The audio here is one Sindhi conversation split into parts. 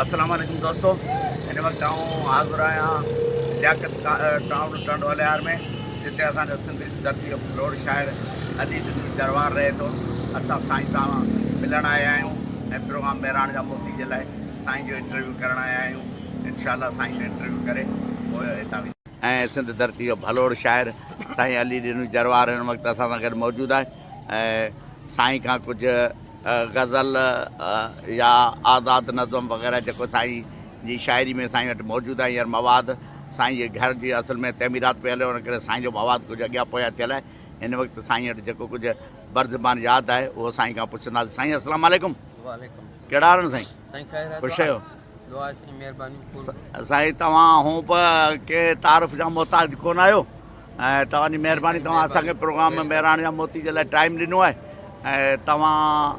اسلام عليڪم دوستو هن وقت آئون حاضر آهيان لياقت ٽائون ٽنڊوالهيار ۾ جتي اسان جو سنڌي جي ڌرتي جو پروڙ شاعر علي جسمي دربار رهي ٿو اسان سائين سان ملڻ آيا آهيون ۽ پروگرام مهراڻ جا موتي جي لاء سائين جو انٽرويو ڪرڻ آيا آهيون انشاء الله سائين جو انٽرويو ڪري پوء هتان وينداسين. ۽ سنڌ ڌرتي جو ڀلوڙ شاعر سائين علي ڏنوي جروار هن وقت اسان سان گڏ موجود آهي ۽ سائين کان ڪجهه غزل يا آزاد نظم وغيره جيڪو سائين جي شاعري ۾ سائين وٽ موجود آهي هينئر مواد سائين جي گهر جي اصل ۾ تعميرات پئي هلي ان ڪري سائين جو مواد ڪجهه اڳيان پويان ٿيل آهي هن وقت سائين وٽ جيڪو ڪجهه برزبان ياد آهي اهو سائين کان پڇنداسين سائين السلام عليڪم وعليڪم ڪهڙا حال آهن سائين سائين خير آهي خوش آهيو دعا سائين مهرباني قرب. سائين توهان هونء به ڪنهن تعارف جا محتاج ڪونه آهيو ۽ توهان جي مهرباني توهان اسان کي پروگرام مهراڻ جا موتي جي لاء ٽائيم ڏنو آهي ۽ توهان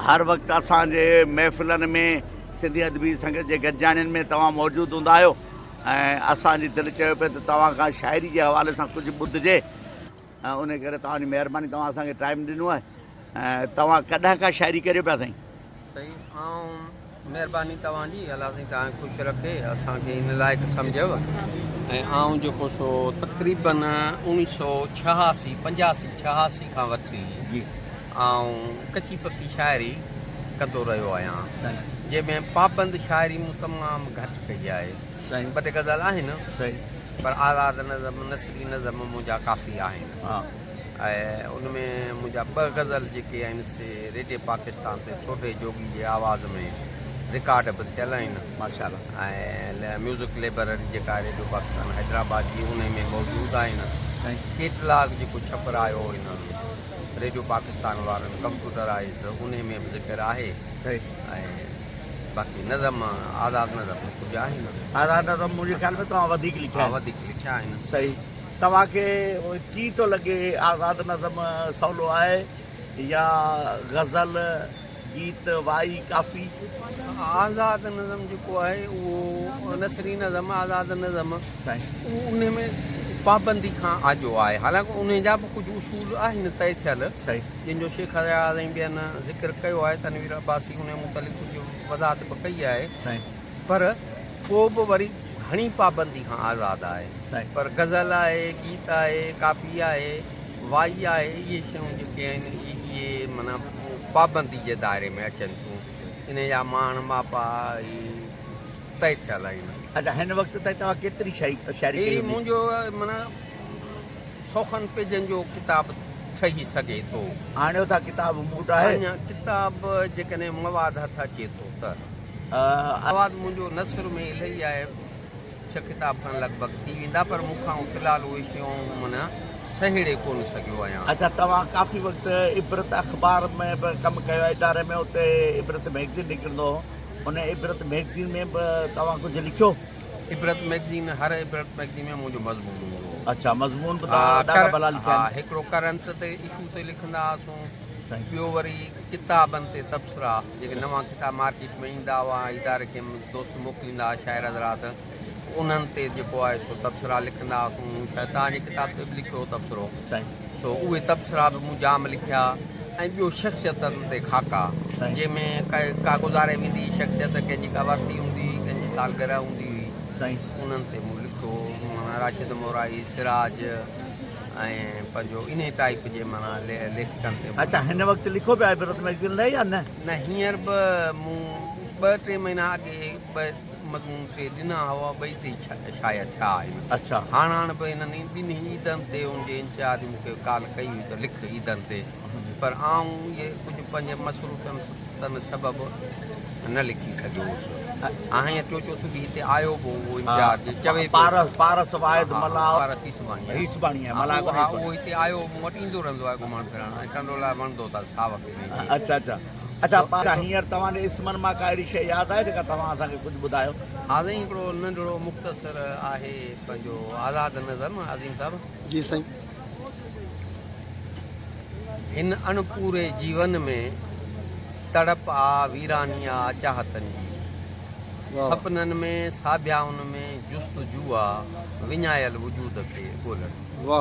هر وقت اسان جي محفلن ۾ سنڌي ادبي سنگت جي گڏجاڻين ۾ توهان موجود هوندا آهيو ۽ اسان جي دل چيو پئي ته توهان کان شاعري جي حوالي سان ڪجهه ٻڌجي. انهي ڪري توهان جي مهرباني توهان اسان کي ٽائيم ڏنو آهي ۽ توهان ڪڏهن کان شاعري ڪريو پيا سائين. سائين آئون مهرباني توهان جي الله سائين توهان کي خوش رکي اسان کي ان لائق سمجهيو ۽ آئون جيڪو سو تقريبن اوڻي سو ڇهاسي پنجاسي ڇهاسي کان وٺي جي آئون ڪچي پڪي شاعري ڪندو رهيو آهيان سائين جنهن ۾ پابند شاعري مون تمام گهٽ ڪئي آهي سائين ٻه ٽي غزل آهن سائين پر آزاد نظم نه هي نظم منهنجا ڪافي آهن ۽ ان ۾ منهنجا ٻه غزل جيڪي آهن سي ريڊيو پاڪستان تي ٺوڍي جوڳي جي آواز ۾ رڪارڊ به ٿيل آهن ۽ ميوزڪ لئبرري جيڪا ريڊيو پاڪستان حيدرآباد جي ان ۾ موجود آهن ڪيٽلاگ جيڪو ڇپرايو هن ريڊيو پاڪستان وارن ڪمپيوٽرائيزڊ ان ۾ به ذڪر آهي ۽ باقي نظم آزاد نظم ۾ ڪجهه آهي نه. آزاد نظم منهنجي خيال ۾ توهان وڌيڪ لکيا آهن. ها وڌيڪ لکيا آهن. صحيح. توهان کي ڪيئن ٿو لڳي آزاد نظم سولو آهي يا غزل، گيت، وائي، ڪافي؟ آزاد نظم جيڪو آهي اهو نثري نظم آزاد نظم اهو ان ۾ پابندي کان آجو آهي حالانڪه ان جا به ڪجهه اصول آهن طئي ٿيل جن جو شيخ اياز ۽ ٻين ذڪر ڪيو آهي، تنوير عباسي انهيء متعلق ڪجهه وضاحت به ڪئي آهي، پر پوء به وري گهڻي پابندي کان آزاد آهي، پر غزل آهي، گيت آهي، ڪافي آهي، وائي آهي، اهي شيون جيڪي آهن، اهي معنيٰ پابندي جي دائري ۾ اچن ٿيون، انهيء جا ماڻ ماپا اهي طئي ٿيل آهن. اهي منهنجو معنيٰ. سوکن پيجن جو ڪتاب ٺهي سگهي ٿو. آڻيو ٿا ڪتاب مون وٽ آهي. آڻيا ڪتاب جيڪڏهن مواد هٿ اچي ٿو ته. مواد منهنجو نثر ۾ الهي آهي. ڇهه ڪتاب کن لڳ ڀڳ ٿي ويندا پر مون کان في الحال اهي شيون من سهيڙي ڪونه سگهيو آهيان. اچا توهان ڪافي وقت عبرت اخبار ۾ به ڪم ڪيو آهي اداري ۾ اتي عبرت مئگزين نڪرندو هو ان عبرت مئگزين ۾ به توهان ڪجهه لکيو. عبرت مئگزين هر عبرت مئگزين ۾ منهنجو مضمون هوندو هو. اڇا مضمون به توهان ڏاڍا ڀلا لکيا آهن. ها هڪڙو ڪرنٽ تي اشو تي لکندا هئاسون ٻيو وري ڪتابن تي تبصرا جيڪي نوان ڪتاب مارڪيٽ ۾ ايندا هئا ۽ اداري کي دوست موڪليندا هئا شاعر حضرات انهن تي جيڪو آهي سو تبصرا لکندا هئاسون مون شايد توهان جي ڪتاب تي به لکيو هو تبصرو. سو اهي تبصرا به مون جام لکيا ۽ ٻيو شخصيتن تي خاڪا جنهن ۾ ڪا گذاري ويندي شخصيت ڪنهن جي ڪا ورسي هوندي هئي ڪنهن جي سالگرهه هوندي هئي انهن تي مون لکيو معنيٰ راشد مورائي سراج ۽ پنهنجو انهي ٽائيپ جي معنيٰ ليکڪن تي اڇا هن وقت لکو پيا آهيو عبرت ميگزين لاء يا نه نه هينئر به مون ٻه ٽي مهينا اڳي ٻه مضمون ڪي ڏنا هئا ٻئي ٽي شايع ٿيا آهن. اچا. هاڻ هاڻ به هنن ئي ٻنهي عيدن تي ان جي انچارج مون کي ڪال ڪئي هئي ته لک عيدن تي پر آئون اهي ڪجهه پنهنجي مصروفيتن سبب نه لکي سگهيو هوس. آهيان ٽيو چوٿ به هتي آيو به هو انچارج چوي پيو. پارس واحد ملاح. پارس هيسباڻي آهي. ملاح ڪونه هيسباڻي. اهو هتي آيو مون وٽ ايندو رهندو آهي گهمڻ ڦرڻ ۽ ٽنڊو لاء وڻندو اٿس ساوڪ ۾. اچا اچا. ادا پارا هينئر توهان جي اسمن مان ڪا اهڙي شيء ياد آهي جيڪا توهان اسان کي ڪجهه ٻڌايو. آزئين هڪڙو ننڍڙو مختصر آهي پنهنجو آزاد نظم عظيم صاحب. جي سائين. هن اڻ پوري جيون ۾ تڙپ آ ويراني آ چاهتن جي سپنن ۾ ساڀيائن ۾ جستجو آ وڃايل وجود کي ڳولڻ جي.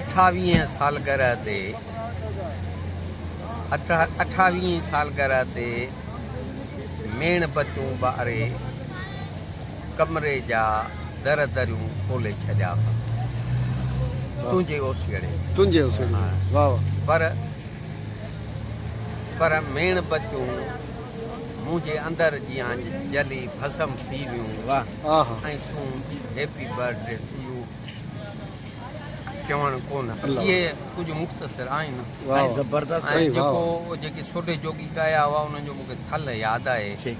اٺاويهين سالگرهه تي اٺاويهين سالگرهه تي ميڻ بتيون ٻاري ڪمري جا در دريون کولي ڇڏيا ها تنهنجي اوسيئڙي تنهنجي اوسيئڙي ۾ واهه واهه پر پر ميڻ بتيون منهنجي اندر جيان جلي ڀسم ٿي ويون واهه آها ۽ تون happy birthday to you چوڻ ڪونه اهي ڪجهه مختصر آهن ۽ جيڪو جيڪي سوڍي جوڳي ڳايا هئا انهن جو مون کي ٿلهه ياد آهي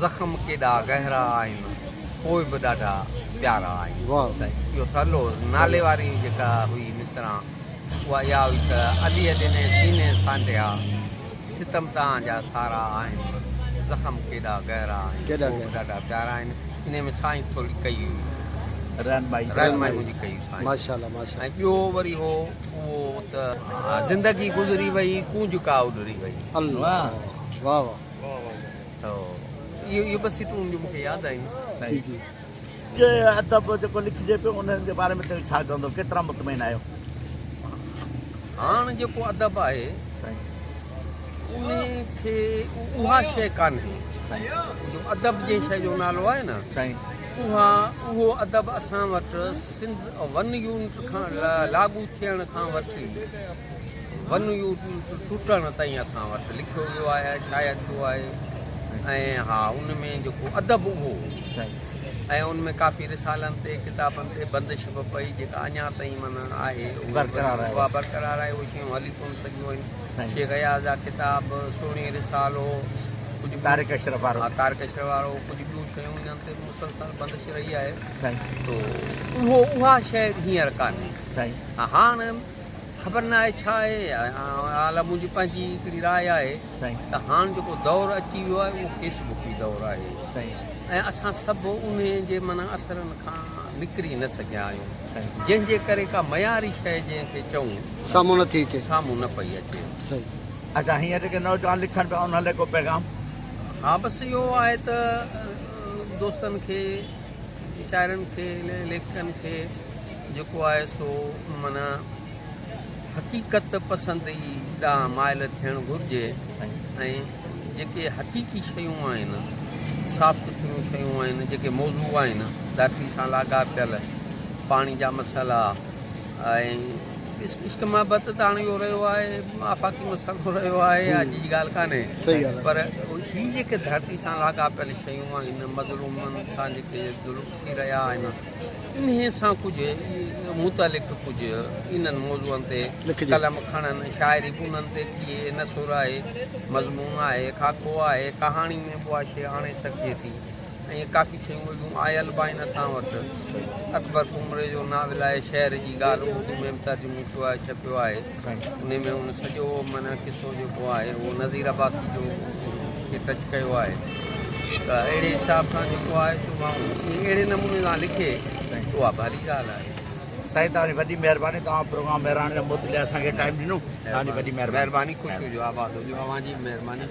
زخم ڪيڏا گهرا آهن پوء به ڏاڍا پيارا آهن اهو ٿلهو نالي واري جيڪا هئي مصرع اها اها هئي ته عليء ڏني سيني سانڍيا ستم تان جا سارا آهن. زخم ڪيڏا گهرا آهن. ڪوڪ ڏاڍا پيارا آهن. انهي ۾ سائين ٿوري ڪئي هئي. رهنمائي منهنجي ڪئي هئي سائين. ۽ ٻيو وري هو اهو ته. زندگي گذري وئي ڪونج ڪا اڏري وئي. اهي ٻه سٽون مون کي ياد آيون سائين. ڪي ادب جيڪو لکجي پيو ان جي باري ۾ توهين ڇا چوندو ڪيترا مطمئن آهيو؟ هاڻ جيڪو ادب آهي انهي کي اها شيء ڪانهي جو ادب جنهن شيء جو نالو آهي نه اها اهو ادب اسان وٽ سنڌ ون يونٽ کان لاڳو ٿيڻ کان وٺي ون يو ٽٽڻ تائين اسان وٽ لکيو ويو آهي شايع ٿيو آهي ۽ ها ان ۾ جيڪو ادب اهو ۽ ان ۾ ڪافي رسالن تي ڪتابن تي بندش به پئي جيڪا اڃا تائين مانا آهي اها برقرار آهي اهي شيون هلي ڪون سگهيون آهن شيخ اياز جا ڪتاب سهڻي رسالو ڪجهه تارڪ اشرف وارو تارڪ اشرف وارو ڪجهه ٻيون شيون انهن تي مسلسل بندش رهي آهي تو اهو اها شايد هينئر ڪانهي هاڻ خبر نه آهي ڇا آهي الا منهنجي پنهنجي هڪڙي راء آهي ته هاڻ جيڪو دور اچي ويو آهي اهو فيس بڪي دور آهي ۽ اسان سڀ انهي جي معنيٰ اثرن کان نڪري نه سگهيا آهيون جنهن جي ڪري ڪا معياري شيء جنهن کي چئون سامهون نه ٿي اچي سامهون نه پئي اچي اچا هينئر جيڪي نوجوان لکن پيا انهن لاء ڪو پيغام ها بس اهو آهي ته دوستن کي ويچارن کي هن اليڪشن کي جيڪو آهي سو معنيٰ حقيقت پسندي ڏانهن مائل ٿيڻ گهرجي ۽ جيڪي حقيقي شيون آهن صاف سٿريون شيون آهن جيڪي موضوع آهن ڌرتي سان لاڳاپيل پاڻي جا مسئلا ۽ عشق محبت ته هاڻي اهو رهيو آهي آفاقي مسئلو رهيو آهي اڄ جي ڳالهه ڪانهي پر هي جيڪي ڌرتي سان لاڳاپيل شيون آهن مظلومن سان جيڪي ظلم ٿي رهيا آهن انهي سان ڪجهه متعلق ڪجهه انهن موضوعن تي قلم کڻن شاعري به انهن تي ٿئي نثر آهي مضمون آهي خاڪو آهي ڪهاڻي ۾ به اها شيء آڻي سگهجي ٿي ائين ڪافي شيون اردو ۾ آيل به آهن اسان وٽ. اڪبر سومري جو ناول آهي شهر جي ڳالهه اردو ۾ به ترجمو ٿيو آهي ڇپيو آهي انهي ۾ هن سڄو معنيٰ قصو جيڪو آهي اهو نذير عباسي جو کي ٽچ ڪيو آهي ته اهڙي حساب سان جيڪو آهي سو ماڻهو اهڙي نموني سان لکي ته اها ڀلي ڳالهه آهي. سائين توهان جي وڏي مهرباني توهان پروگرام مهراڻ جا موت لي اسان کي ٽائيم ڏنو توهان جي وڏي مهرباني. مهرباني خوش هجو آباد هجو اوهان جي به مهرباني.